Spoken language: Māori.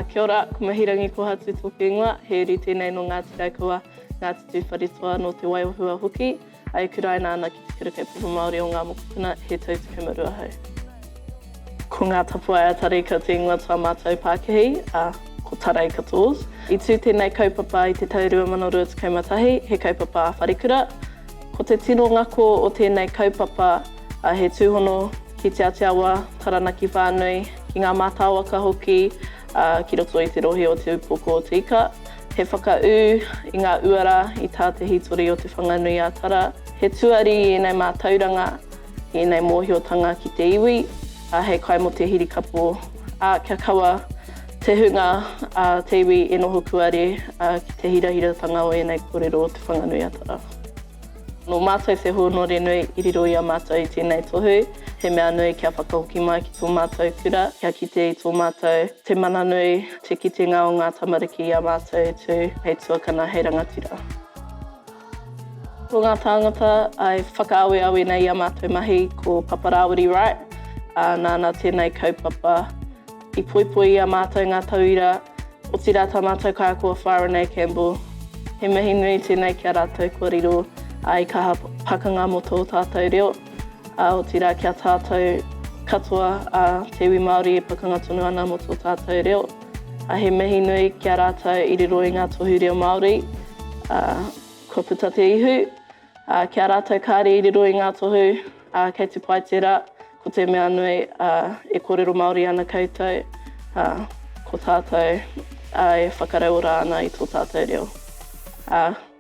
Kia ora, ko Mahirangi Kohatu tōku ingoa, he uri tēnei nō Ngāti Raukawa, Ngāti Tūwharetoa, nō Te Waiwahua hoki, e kuraina ana ki Te Kura Kaupapa Māori o Ngā Mokopuna, he tau 12 hou. Ko ngā tapuwae a Tari koutou ingoa tō a mātou pākihi, a, ko Tarai Katoz. I tū tēnei kaupapa i te tau 2021, he kaupapa wharekura. Ko te tino ngako o tēnei kaupapa, he tūhono ki Te Ātiawa, Taranaki whānui, ki ngā mātāwaka hoki ki roto i te rohe o Te Upoko o Te Ika. He whakaū i ngā uara i tā te hītori o Te Whanganui-ā-Tara. He tuari i ēnei mātauranga. Ēnei mōhiotanga ki te iwi, ā, hei kai mō te hirikapo, ā, kia kaua te hunga a te iwi e noho kuare ki te hirahiratanga o ēnei kōrero o Te Whanganui-a-Tara. Nō mātou te hōnore nui i riro i a mātou i tēnei tohu, he mea nui kia whakahoki mai ki tō mātou kura, kia kite i tō mātou te mana nui, te kitenga o ngā tamariki i a mātou e tū hei tuakana, hei rangatira. Ko ngā tāngata e whakaaweawe nei i ā mātou mahi ko Papa Rāwiri Wright, ā, nāna tēnei kaupapa. I poipoi i a mātou ngā tauira, otirā tā mātou kākau a Wharanei Campbell. He mihi nui tēnei ki a rātou kua riro i kaha pakanga mō tō tātou reo, ā, otirā ki a tātou katoa, ā, te iwi Māori e pakanga tonu ana mō tō tātou reo. A he mihi nui ki a ratou i riro i nga tohu reo Maori, a, kua puta te ihu, a, ki a ratou kaare i riro i nga tohu, a, kei te pai tera, ko te mea nui, a, e korero Maori ana koutou, a, ko tatou, a, e whakarauora ana i to tatou reo. A.